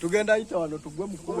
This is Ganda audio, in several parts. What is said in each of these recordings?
tugenda ayita wano tugwe mukulu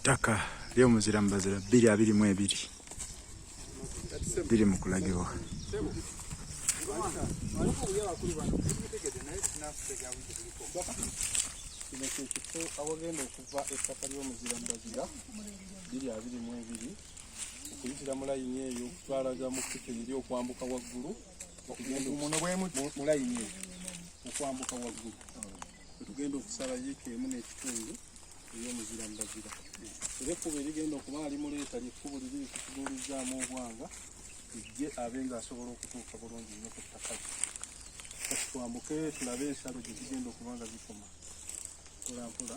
ttaka ly'omuzira mu bazira bbiri abiri mu ebiri biri mu kulagibwa kino kyekifo awagenda okuva ettaka ly'omuzira mu bazira bbiri abiri mu ebiri okuyitira mu layini eyo okutwalaga mu kkuto eri okwambuka waggulu muno bwemuti mulayini okwambuka waggulu wetugenda okusala yiika emu n'ekitundu ey'omuzira mbazira era ekkubo erigenda okuba alimuleeta lyekkubo liri likutuduulizzaamu obwanga ejje abe nga asobola okutuuka bulungi nnyo ku ttaka kati twambuke tulabe ensalo gye zigenda okuba nga zikoma mpolampola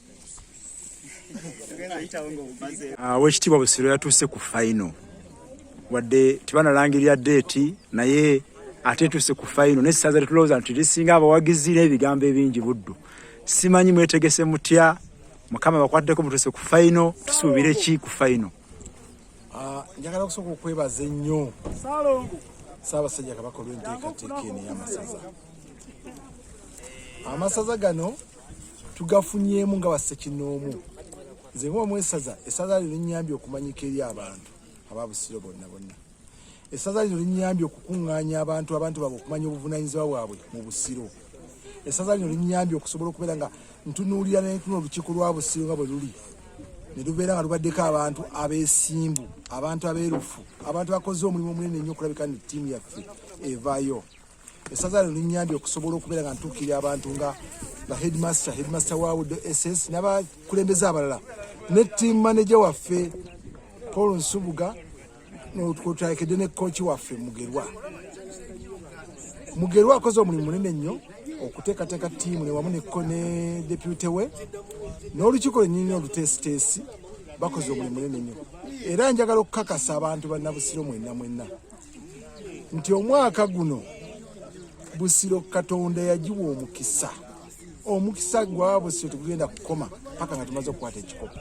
Ah, owekitiibwa busiro yatuuse ku faino wadde tebanalangirira deeti naye ate etuuse ku faino naye ssaza tetulowooza nti lisinga abawagizi n'ebigambo ebingi buddu simanyi mwetegese mutya mukama bakwateko mutuuse ku faino tusuubire ki ku faino ah, njagala okusooka okwebaza ennyo saabasajja kabaka olwenteekateeka eno eyamasaza amasaza gano tugafunyemu nga basekinoomu nze ngaomu esaza esaza lino linyambye okumanyika eri abantu ababusiro bonna bonna esaza lino linyambye okukuŋŋaanya abantu abantu babo okumanya obuvunanyizibwa bwabwe mu busiro esaza lino linyambye okusobola okubeera nga ntunuulira nentuno olukiiko lwa busiro nga bwe luli ne lubeera nga lubaddeko abantu abeesimbu abantu abeerufu abantu abakoze omulimu omunene nnyo okulabika nti ttiimu yaffe evayo esaza lino linyambye okusobola okubeera nga ntuukirira abantu nga ba headmaster headmaster wa wudo ss n'abakulembeze abalala ne team manager waffe paul nsubuga kwotakedde ne kooki waffe mugerwa mugerwa akoze omulimu munene nnyo okuteekateeka tiimu newamu neko ne depute we n'olukiiko lwenyini oluteesiteesi bakoze omulimu munene nnyo era njagala okukakasa abantu bannabusiro mwenna mwenna nti omwaka guno busiro katonda yagiwa omukisa omukisa gwabusiro tegugenda kukoma paka nga tumaze okukwata ekikopo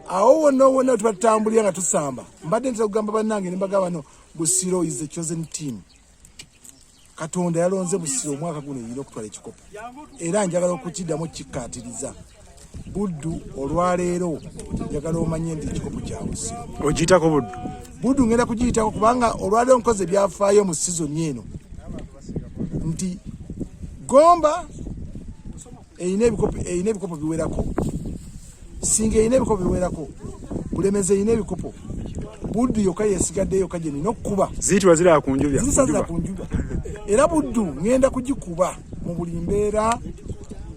awo wonna wonna tuba tutambulira nga tusamba mbadde ntera kugamba bannange ne mbagamba no busiro is the chosen team katonda yalonze busiro omwaka guno yina okutwala ekikopo era njagala okukiddamu okukikkaatiriza buddu olwaleero njagala omanye nti ekikopo kya busiro ogiyitako buddu buddu ngenda kugiyitako kubanga olwaleero nkozi ebyafaayo mu sizoni eno nti gomba erina ebikopo erina ebikopo biwerako singa erina ebikopo biwerako bulemezi erina ebikopo buddu yokka yesigadde yokka gye nina okukuba ziyitibwa ziraba ku njuba zisazira ku njuba era buddu ŋŋenda kugikuba mu buli mbeera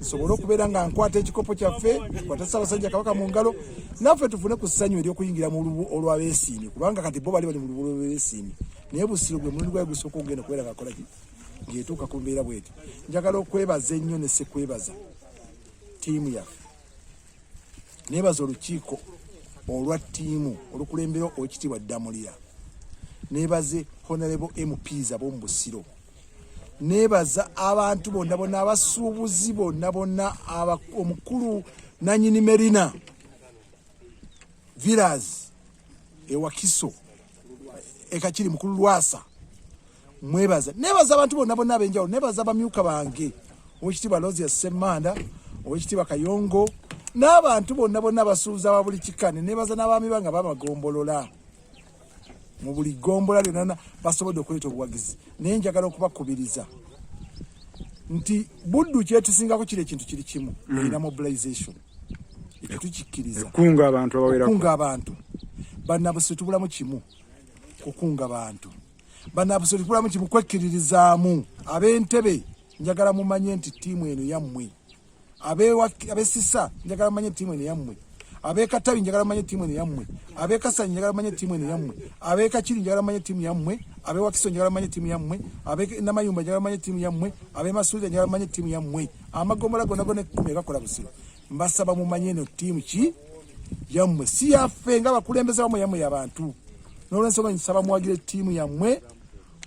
nsobole okubeera nga nkwata ekikopo kyaffe kwata ssabasajja kabaka mu ngalo naffe tufune ku ssanyu eryokuyingira mu lubu olwabesiimi kubanga kati bo bali bali mu lubu olwabesiimi naye busiro gwe mulundi gwaye gusooka okugenda okubeera nga akolaki ngetuuka ku mbeera bweti njagala okwebaza ennyo ne sikwebaza tiimu yaffe nebaza olukiiko olwa tiimu olukulembera okitiibwa ddamulira nebaze honorable mps ab'omu busiro nebaza abantu bonna bonna abasuubuzi bonna bonna omukulu nanyini merina villas ewakiso ekakiri mukulu lwasa mwebaza nebaza abantu bonna bonna abenjawulo nebaza bamyuka bange owekitiibwa losia ssemanda owekitiibwa kayongo n'abantu bonna bonna basuuza ba buli kika ne nebaza n'abaami banga bamagombolola mu buli gombola lyonana basobodde okuleeta obuwagizi naye njagala okubakubiriza nti buddu kyetusingako kiri ekintu kiri kimu mm. era mobilization ekyo tukikkiriza kunga abantu abawerako kunga abantu banabusitubulamu kimu kukunga bantu banabusobola kulamu kimu kwekkiririzaamu ab'entebe njagala mumanye nti ttiimu eno yammwe abesisa njagala mumanye ttiimu eno yammwe abekatabi njagala mumanye ttiimu eno yammwe abekasanyi njagala mumanye ttiimu eno yammwe abekakiri njagala mumanye ttiimu yammwe abewakiso njagala mumanye ttiimu yammwe abenamayumba njagala mumanye ttiimu yammwe abemasuulira njagala mumanye ttiimu yammwe amagomola gonagona ekumi egakola busiro Mbasaba mumanye eno ttiimu ki yammwe si yaffe nga bakulembeza bamwe yammwe yabantu n'olwensonga nsaba muwagire ttiimu yammwe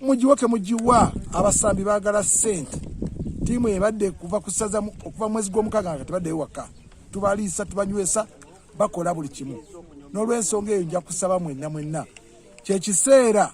mugiwe ke mugiwa abasambi baagala ssente ttiimu ebadde kuva kusaza okuva mwezi gw'omukaaga nga tebaddeyo waka tubaliisa tubanywesa bakola buli kimu n'olwensonga eyo nja kusaba mwenna mwenna kyekiseera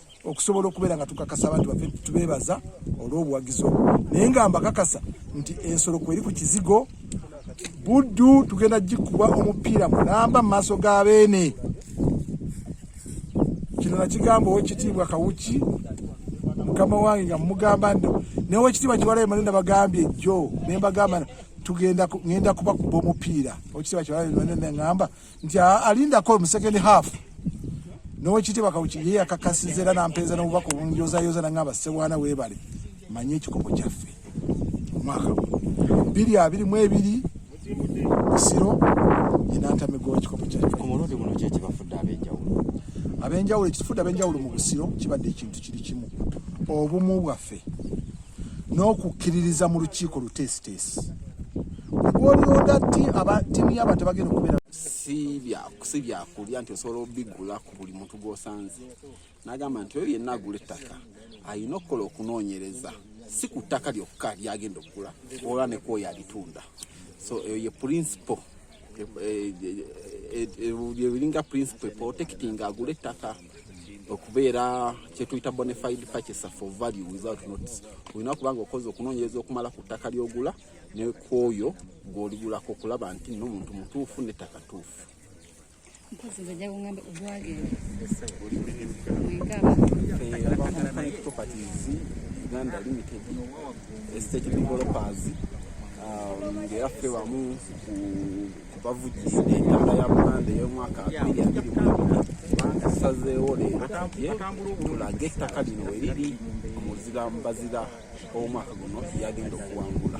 okusobola okubeera nga tukakasa abantu baffe tubeebaza olw'obuwagizi obwo naye nga mbakakasa nti ensolo kweri ku kizigo buddu tugenda gikuba omupiira mulamba mu maaso ga beene kino nakigamba owekitiibwa kawuki mukama wange nga mumugamba nti naye wekitiibwa kiwalayo mane nabagambye jjo nembagamba tugenda ngenda kubakuba omupiira owekitiibwa kiwalayo mane nengamba nti alindako mu second half nowekitiibwa kawuki ye yakakasiza era nampeeza n'obubaka obunjozayooza nangamba ssewaana weebale manye ekikopo kyaffe omwaka biri abiri mu ebiri busiro enantamigo ekikopo ku mulundi guno ki ekibafudde ab'enjawulo ab'enjawulo ekitufudde ab'enjawulo mu busiro kibadde ekintu kiri kimu obumu bwaffe n'okukkiririza mu lukiiko luteesiteesi olwolonda ti aba tiimu yaba tebagenda okubeera si byakulya nti osobola obigula ku buli muntu gwosanze nagamba nti oyo yenna agula ettaka alina okukola okunoonyereza si ku ttaka lyokka lyagenda okugula ola nekwoyo alitunda so eyo ye principle ebiringa e, e, e, principle protecting agula ettaka okubeera kyetuyita bonafide purchaser for value without notice olina kuba nga okoze okunoonyereza okumala ku ttaka lyogula nekwoyo gwoligulako okulaba nti nomuntu mutuufu nettaka tuufu uganda limited estate developers um, ngeyaffe wamu ku bavujjidde entanda ya buganda ey'omwaka abiri abiri bantusazeewo leero ye tulage ettaka lino we liri omuzira mbazira ow'omwaka guno yagenda okuwangula